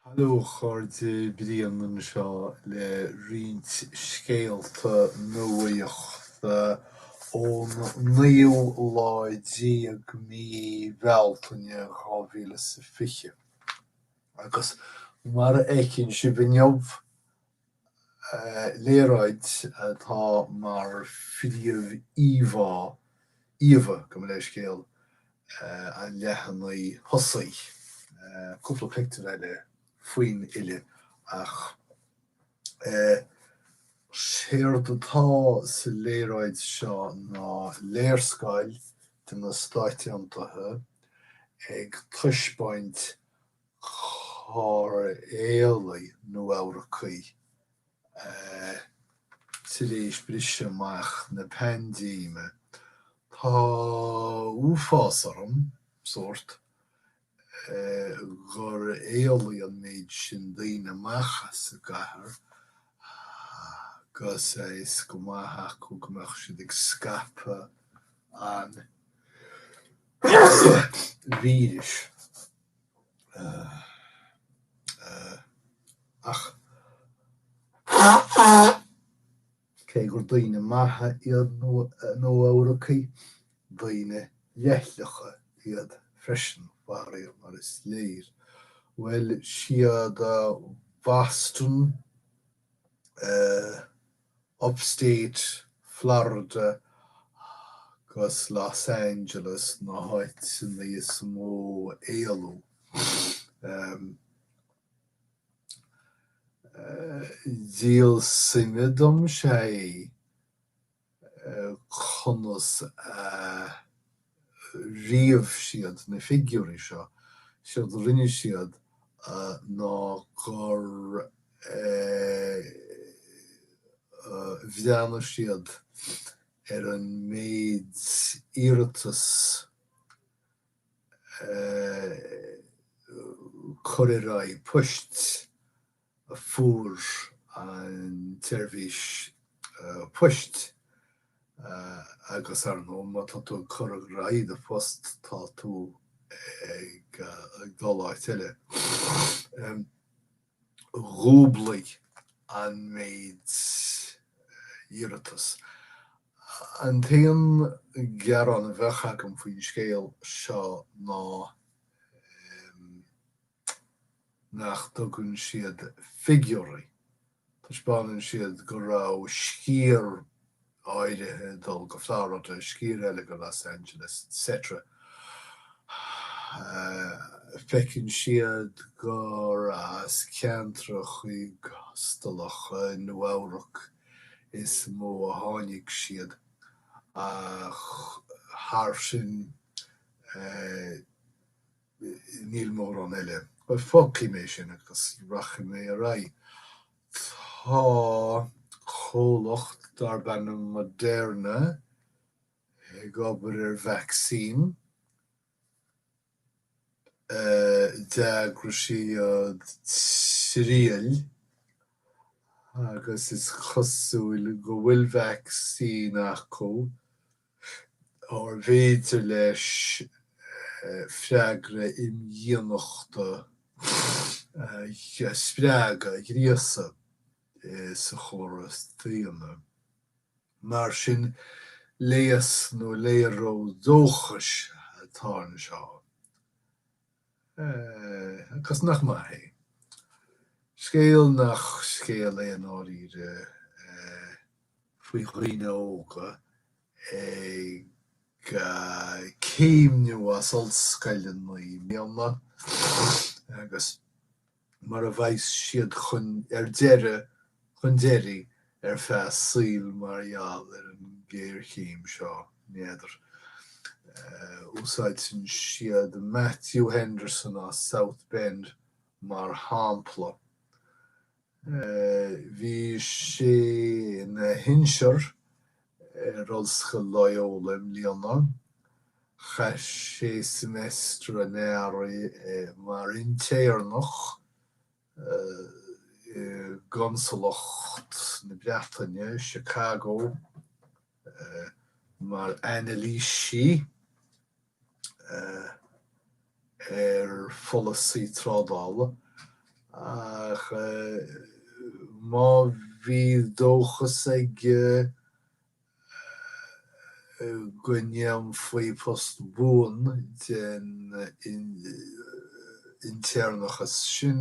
Hallo a chairde, Brian anseo le roinnt scéalta nuachta ón naoú lá déag mí Bealtaine dhá mhíle is a fiche. Agus mar a fheiceann sibh inniu, léaráid atá mar phríomh-íomhá, íomha, gabh mo leithscéal, an leathanaigh thosaigh, cúpla pictiúr eile faoin fhilleadh, ach séard atá sa léaráid seo ná léarscáil de na Stáit Aontaithe ag taispeáint cár éalaigh Nua-Eabhracaigh tar éis briseadh amach na paindéime. Tá uafás orm, sórt, gur éalaigh an méid sin daoine amach as an gcathair agus a fhios go maith acu go mbeadh siad ag scaipeadh an víris. Ach cé gur daoine maithe iad Nua-Eabhracaigh, daoine leithleacha iad freisin, faraor, mar is léir. Bhuel, is iad Boston. Upstate Florida agus Los Angeles na háiteanna is mó ar éalaigh. Díol suime dom sea conas a ríomh siad na figiúirí seo, séard a rinne siad ná gur bhreathnaigh siad ar an méid iarratas cur ar aghaidh poist, a fuair an tseirbhís poist agus, ar ndóigh, má tá tú ag cur ar aghaidh do phost, tá tú ag dul áit eile. Dhúblaigh an méid iarratas. An t-aon gearán a bheadh agam faoin scéal seo ná. nach dtugann siad figiúirí, taispeánann siad go raibh sciar áirithe ag dul go Florida, sciar eile go Los Angeles, etc. Feiceann siad gur as ceantracha costasacha i Nua-Eabhrac is mó a tháinig siad ach thar sin, Níl mórán eile. Bhuel, fágfaidh mé sin agus rachaidh mé ar aghaidh. Tá comhlacht darb ainm Moderna ag obair ar vacsaín. D'eagraigh siad triail agus is cosúil go bhfuil vacsaín acu. arbh fhéidir léi freagra imdhíonachta a spreagadh, a ghríosadh, sa chóras daonna? Mar sin, léas nó léaró dóchais atá anseo. Agus nach maith é. Scéal nach scéal é i ndáiríre faoi dhaoine óga ag céimniú as ollscoileanna i mbliana agus. mar a bheidh siad ar deireadh chun deiridh ar feadh a saol mar gheall ar an géarchéim seo, n'fheadar. Úsáideann siad Matthew Henderson as South Bend mar shampla. Bhí sé ina shinsear in Ollscoil Loyola i mbliana. Chaith sé seimeastar an earraigh mar intéirneach i gConsalacht na Breataine i Chicago mar anailísí. ar pholasaí trádála, ach má bhí dóchas aige go ndéanfaí post buan den intéirneachas sin,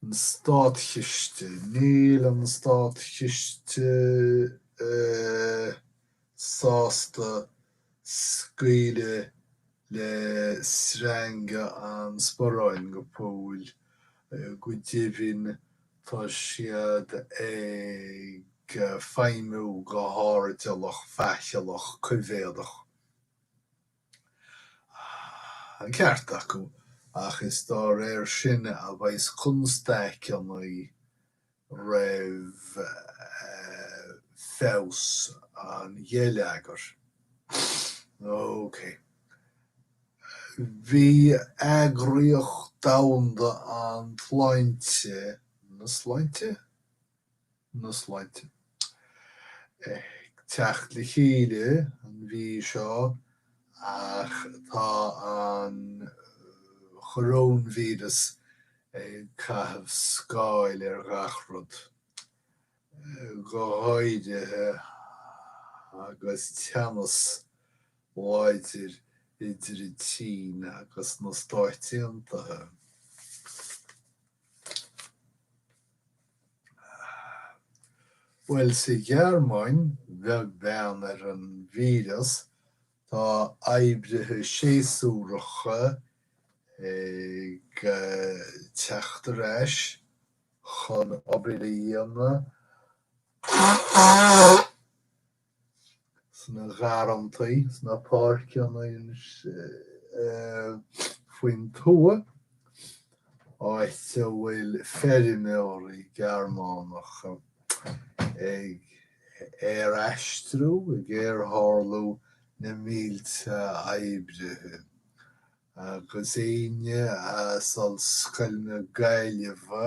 An Státchiste, Níl an Státchiste sásta scaoileadh le sreanga an sparáin go fóill, go deimhin tá siad ag feidhmiú go hairdeallach faicheallach coimhéadach. ceart acu, ach is dá réir sin a bheas constaic ann roimh fheabhas an gheilleagair. OK. Bhí eagraíocht domhanda an tSláinte, na Sláinte? na sláinte. Ag teacht le chéile an mhí seo ach tá an choróinvíreas ag caitheamh scáil ar gach rud, go háirithe agus teannas láidir idir an tSín agus na Stáit Aontaithe. Bhuel, sa Ghearmáin, beag beann ar an víreas, tá oibrithe séasúracha ag teacht ar ais chun obair a dhéanamh. sna garrantaí, sna páirceanna faoin tuath, áit a bhfuil feirmeoirí Gearmánacha ag aeraistriú, ag aertharlú na mílte oibrithe, agus éinne as Ollscoil na Gaillimhe,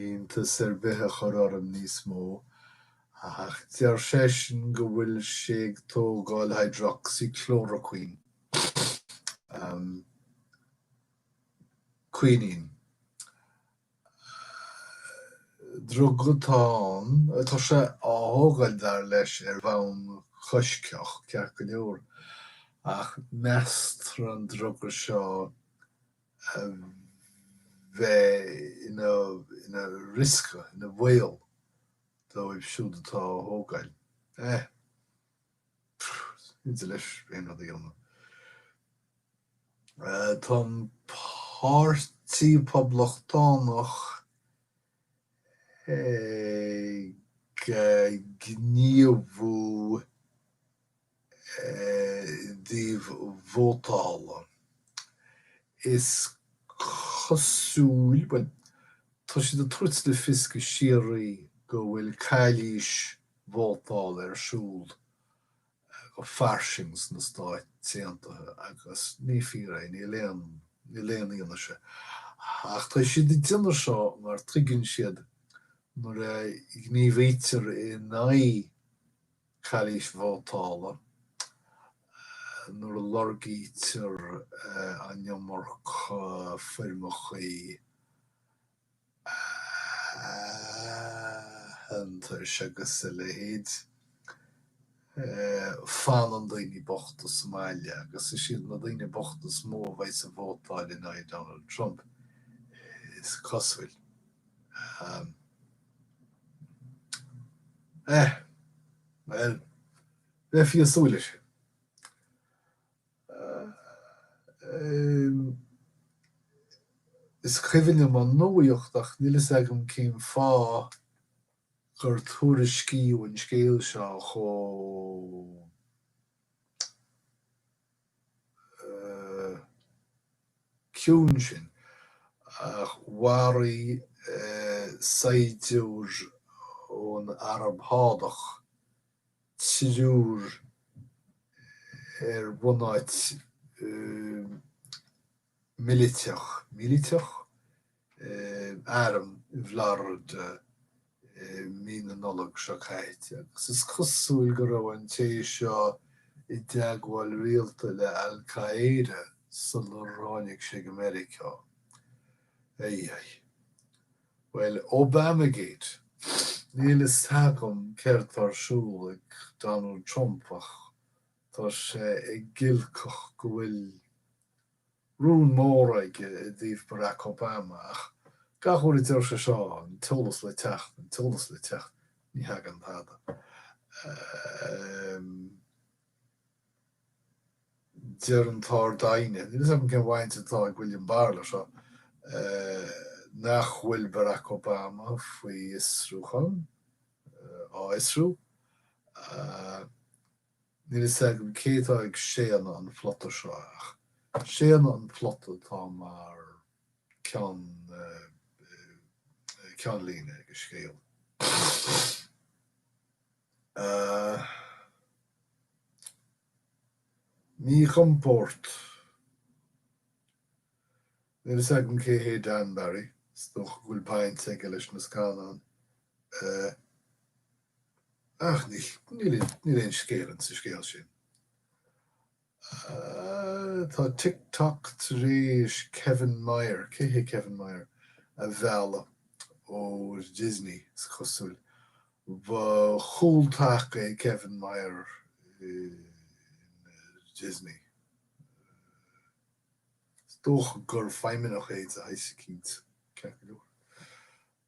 iontas ar bith a chur orm níos mó, ach deir seisean go bhfuil sé ag tógáil hydroxychloroquine, an quinine, druga atá ann, atá sé á thógáil dar leis ar bhonn coisctheach, ceart go leor, ach meastar an druga seo bheith ina riosca, ina bhaol dóibh siúd atá á thógáil. Eh. pfft, ní féidir leis aon rud a dhéanamh. Tá an Páirtí Poblachtánach ag gníomhú. dtaobh vótála. Is cosúil, bhuel, tá siad ag tabhairt le fios go síoraí go bhfuil calaois vótála ar siúl go fairsing sna Stáit Aontaithe agus ní fíor é, níl aon, níl aon fhianaise. Ach tá siad ag déanamh seo mar tuigeann siad nuair a ghníomhaítear in aghaidh, calaois vótála nuair a lorgaítear an iomarca foirmeacha aitheantais agus a leithéid. Fanann daoine bochta sa mbaile agus is iad na daoine bochta is mó a bheas ag vótáil in aghaidh Donald Trump, is cosúil. Eh. Bhuel, bheifí ag súil leis sin. Is cuimhin liom an nuacht ach níl fhios agam cén fáth gur tuairiscíodh an scéal seo chomh. ciúin sin, ach mharaigh saighdiúir ón Araib Shádach triúr ar bhunáit militeach, míliteach? eh. arm i bhFlorida i mí na Nollag seo caite agus is cosúil go raibh an té seo i dteagmháil rialta le Al Qaeda sular tháinig sé go Meiriceá. Aye aye. Bhuel, Obamagate. Níl fhios agam céard tá ar siúl ag Donald Trump ach tá sé ag giolcach go bhfuil rún mór aige i dtaobh Barack Obama ach gach uair a deir sé seo an t-eolas le teacht, an t-eolas le teacht, ní thagann tada. Deir an tArd-Aighne, níl fhios agam cén bhaint atá ag William Barr le seo, nach bhfuil Barack Obama faoi fhiosrúchán, á fhiosrú. Níl fhios agam cé atá ag séanadh an phlota seo ach séanadh an phlota atá mar cheann ceannlíne ag an scéal. Míchompord. Níl fhios agam cé hé Dan Barry, is dócha go bhfuil baint aige leis na scannáin Ach níl aon scéal ann sa scéal sin. Tá TikTok tar éis Kevin Mayer, cé hé Kevin Mayer? a mhealladh ó Disney, is cosúil. Ba chúltaca é Kevin Mayer in Disney. Is dócha gur feidhmeannach é de shaghas eicínt, ceart go leor.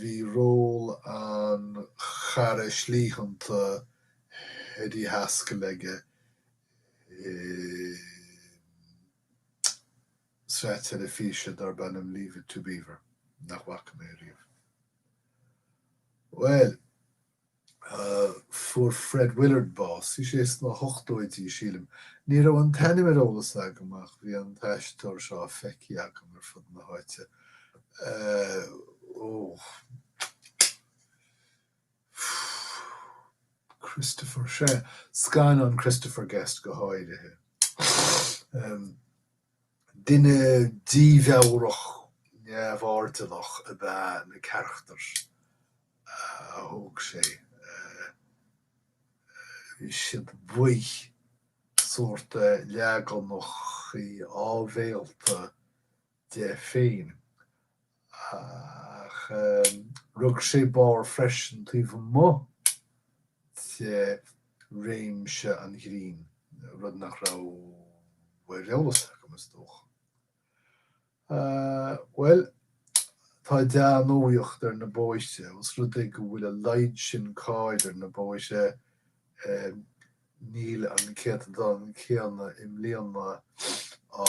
Bhí ról an chara shlítheánta Eddie Haskell aige i sraith teilifíse darb ainm Leave It To Beaver, nach bhfaca mé riamh. Bhuel! Fuair Fred Willard bás, bhí sé sna hochtóidí, sílim. Ní raibh an t-ainm ar eolas agam ach bhí an t-aisteoir seo á feicthe agam ar fud na háite. Christopher, sea, scannán Christopher Guest go háirithe. Duine dímheabhrach neamhairdeallach ab ea na carachtair a thóg sé. Bhí siad baoth, sórt leaganacha áibhéalta de féin. Ach rug sé barr freisin taobh amuigh de réimse an ghrinn, rud nach raibh ar eolas agam, is dócha. Bhuel, tá dea-nuaíocht ar na bóithre, os rud é go bhfuil a laghad sin cairr ar na bóithre, níl an céatadán céanna i mbliana á.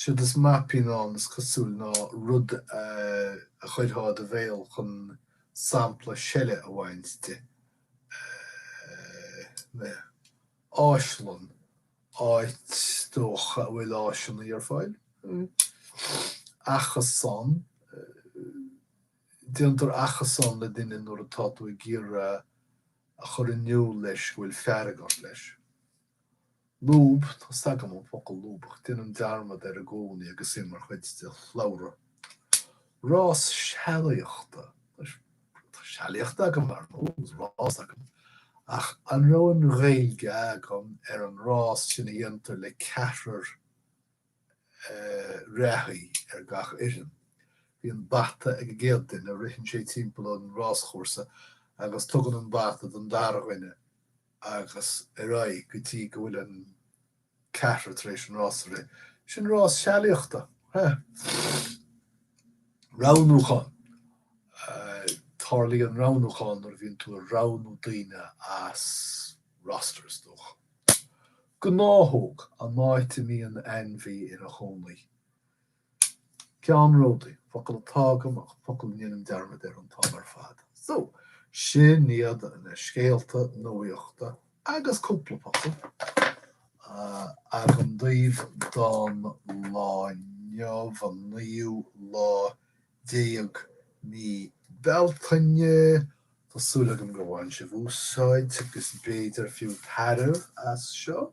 Siúd is maipín ann is cosúil ná rud a chuirfeá i do bhéal chun sampla seile a bhaint de. Áislann, áit is dócha a bhfuil áiseanna ar fáil. Achasán, déantar achasán le duine nuair atá tú ag iarraidh a chur in iúl leis go bhfuil fearg ort leis. Lúb, tá 's agam an focal lúbach, déanaim dearmad air i gcónaí agus é mar chuid de shlabhra. Rás sealaíochta, sealaíocht agam, rás agam, ach an raibh an Ghaeilge agam ar an rás sin a dhéantar le ceathrar reathaí ar gach fhoireann? Bíonn bata ag an gcéad duine, ritheann sé timpeall an ráschúrsa agus tugann an bata don dara dhuine agus ar aghaidh go dtí go bhfuil an ceathrar tar éis an rás a rith. Sin rás sealaíochta. Roghnúchán Tarlaíonn roghnúchán nuair a bhíonn tú ag roghnú daoine as roster, is dócha. Gnáthóg An áit a mbíonn ainmhí ina chónaí. Ceannródaí, focal atá agam ach focal a ndéanaim dearmad air an t-am ar fad. So, sin iad na scéalta nuachta agus cúpla focal agam daoibh don lá inniu, an naoú lá déag de mhí Bealtaine. Tá súil agam gur bhain sibh úsáid, agus b'fhéidir fiú tairbhe, as seo.